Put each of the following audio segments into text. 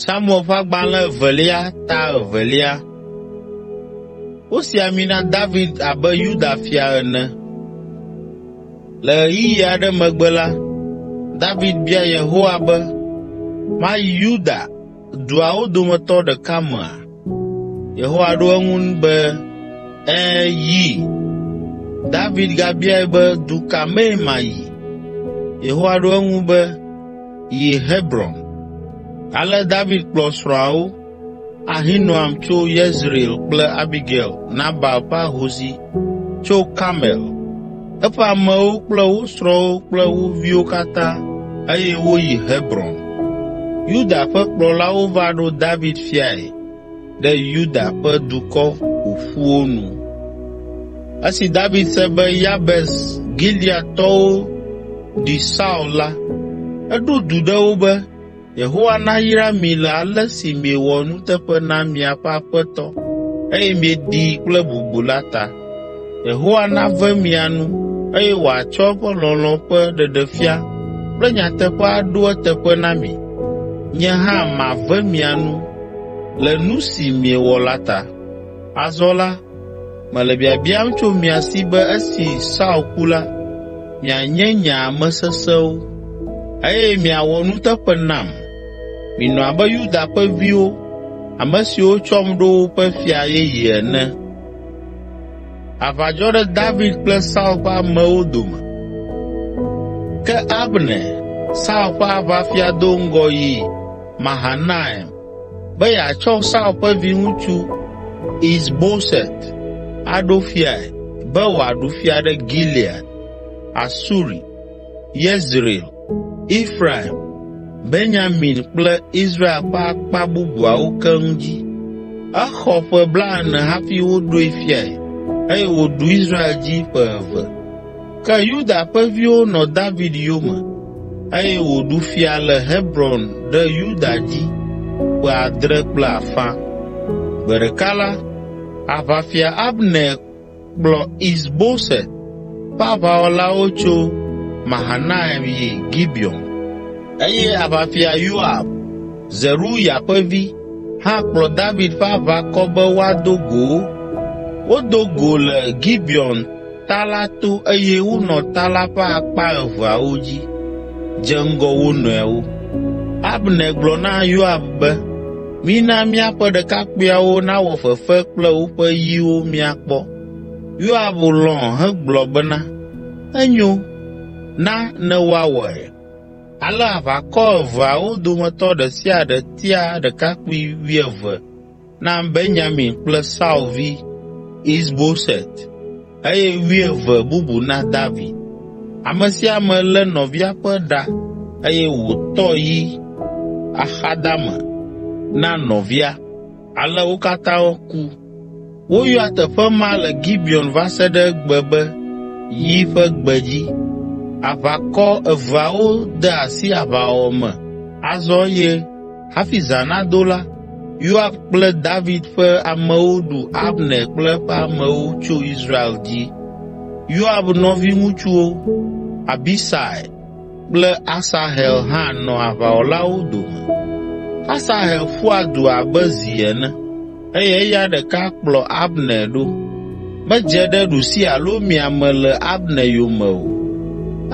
Samuel ƒe agbalẽ evelia ta evelia. Wosi ami na David abe Yuda fia ene. Le ɣeyiɣi aɖe megbe la, David bia Yehowa be, “Mayi Yuda duawo dometɔ ɖeka mea? Yehowa ɖo eŋu be, Ẽ, yi. David gabiae be, Du ka mee mayi? Yehowa ɖo eŋu be, Yi Hebron. Ale David kplɔ srɔ̃awo, Ahinoam tso Yezreel kple Abigail, Nabal ƒe ahosi, tso Karmel. eƒe amewo kple wo srɔ̃wo kple wo viwo katã eye woyi Hebron. Yuda ƒe kplɔlawo va ɖo David fiae ɖe Yuda ƒe dukɔ ƒoƒuwo nu. Esi David se be Yabes Gileadtɔwo ɖi Saul la, eɖo du ɖe wo be Yehowa nayra mi le ale si miewɔ nuteƒe na miaƒe aƒetɔ eye mieɖii kple bubu la ta. Yehowa nave mia nu eye wòatsɔ eƒe lɔlɔ̃ ƒe ɖeɖefia kple nyateƒe aɖo eteƒe na mi. Nye hã mave mia nu le nu si miewɔ la ta. Azɔ la, Mele biabiam tso mia si be esi Saul ku la, mianye nye ame sesẽwo, eye miawɔ nuteƒe nam. Minɔ abe Yuda ƒe viwo, ame siwo tsɔm ɖo woƒe fia yeye ene.” Aʋa dzɔ ɖe David kple Saul ƒe amewo dome. Ke Abner, Saul ƒe aʋafia do ŋgɔ yi Mahanaim be yeatsɔ Saul ƒe viŋutsu Is Boset aɖo fiae be wòaɖu fia ɖe Gilead, Asuri, Yezreel, Efraim, Benyamin kple Israel ƒe akpa bubuawo keŋ dzi. Exɔ ƒe blaene hafi woɖoe fiae eye wòɖu Israel dzi ƒe eve. Ke Yuda ƒe viwo nɔ David yome eye wòɖu fia le Hebron ɖe Yuda dzi ƒe adre kple afã. Gbe ɖeka la, aʋafia Abner kplɔ Is Boset ƒe aʋawɔlawo tso Mahanaim yi Gibeon eye aʋafia Yoab, Zeruya ƒe vi, hã kplɔ David ƒe aʋakɔ be woado go wo. Wodo go le Gibeon ta la to eye wonɔ ta la ƒe akpa eveawo dzi, dze ŋgɔ wo nɔewo. Abner gblɔ na Yoab be, “Mina míaƒe ɖekakpuiawo nawɔ fefe kple woƒe yiwo míakpɔ.” Yoab lɔ̃ hegblɔ bena, “Enyo, na ne woawɔe.” Ale aʋakɔ eveawo dometɔ ɖe sia ɖe tia ɖekakpui wuieve. na Benyamin kple Saul vi Isboset eye wuieve bubu na David. Ame sia ame lé nɔvia ƒe ɖa eye wòtɔ yi axadame na nɔvia. Ale wo katã ku. Woyɔa teƒe ma le Gibeon va se ɖe egbe be yi ƒe gbedzi. Aʋakɔ eveawo de asi aʋawɔwɔ me azɔ eye Hafi zã nado la, Yoab kple David ƒe amewo ɖu Abner kple eƒe amewo tso Israel dzi. Yoab nɔviŋutsuwo, Abisai kple Asahel hã nɔ aʋawɔlawo dome. Asahel ƒua du abe zi ene eye eya ɖeka kplɔ Abner ɖo. Medze ɖe ɖusi alo mia me le Abner yome o.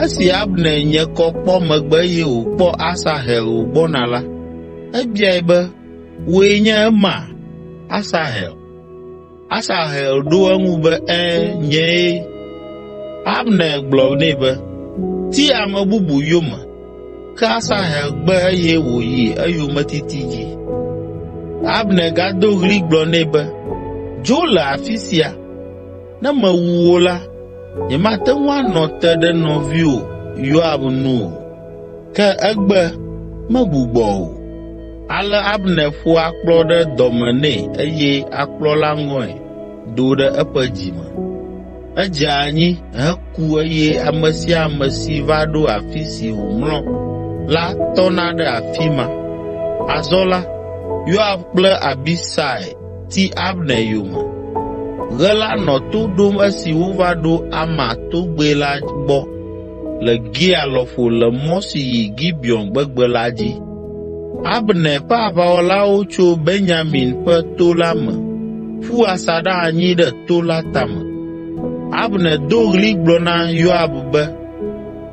Esi Abner nye kɔ kpɔ megbe eye wòkpɔ Asahel wògbɔna la, ebiae be, “Wòe nye ema, Asahel?” Asahel ɖo eŋu be, “Ẽ, nyee.” Abner gblɔ nɛ be, “Ti ame bubu yome.” Ke Asahel gbe eye wòyi eyometiti dzi. Abner gado ɣli gblɔ nɛ be, “Dzo le afi sia! Ne mewu wò la, nyemate ŋu anɔ te ɖe nɔviwò Yoab nu o.” Ke egbe, megbugbɔ o. Ale Abner ƒo akplɔ ɖe dɔme nɛ eye akplɔ la ŋɔe do ɖe eƒe dzime. Edze anyi heku eye ame sia ame si va ɖo afi si wòmlɔ la tɔna ɖe afi ma. Azɔ la, Yoab kple Abisai ti Abner yome. Ɣe la nɔ to ɖom esi wova ɖo Ama togbɛ la gbɔ. le Gia lɔƒo le mɔ si yi Gibeon gbegbe la dzi. Abner ƒe aʋawɔlawo tso Benyamin ƒe to la me ƒu asaɖa anyi ɖe to la tame. Abner do ɣli gblɔ na Yoab be,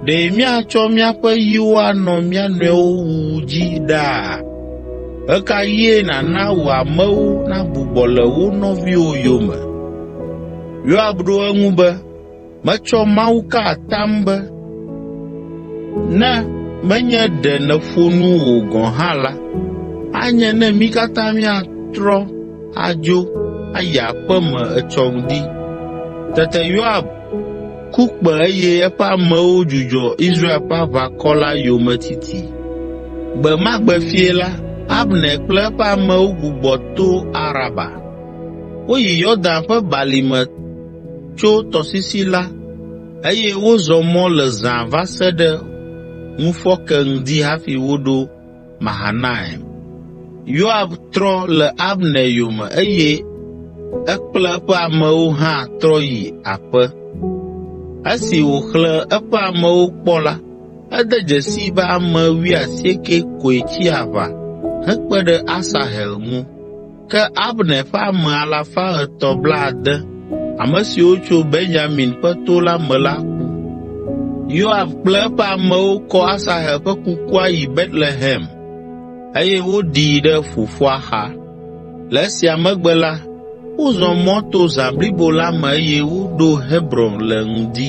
“Ɖe míatsɔ míaƒe yiwo anɔ mía nɔewo wuwu dzi ɖaa? Ɣe ka ɣie nàna wò amewo nagbugbɔ le wo nɔviwo yome?” Yoab ɖo eŋu be, Metsɔ Mawu ka atam be ne menye ɖe nèƒo nu o gɔ̃ hã la, anye ne mí katã míatrɔ adzo ayi aƒe me etsɔ ŋdi.” Tete Yoab ku kpẽ eye eƒe amewo dzudzɔ Israel ƒe aʋakɔ la yometiti. Gbe ma gbe fiẽ la, Abner kple eƒe amewo gbugbɔ to Araba. Woyi Yordan ƒe balime tso tɔsisi la eye wozɔ mɔ le zã va se ɖe ŋufɔke ŋdi hafi woɖo Mahanaim. Yoab trɔ le Abner yome eye ekple eƒe amewo hã trɔ yi aƒe. Esi wòxlẽ eƒe amewo kpɔ la, ede dzesii be ame wuiasieke koe tsi aʋa hekpe ɖe Asahel ŋu. Ke Abner ƒe ame alafa etɔ̃ blaade (360), ame siwo tso Benyamin ƒe to la me la ku. Yoab kple eƒe amewo kɔ Asahel ƒe kukua yi Betlehem eye woɖii ɖe fofoa xa. Le esia megbe la, wozɔ mɔ to zã blibo la me eye woɖo Hebron le ŋdi.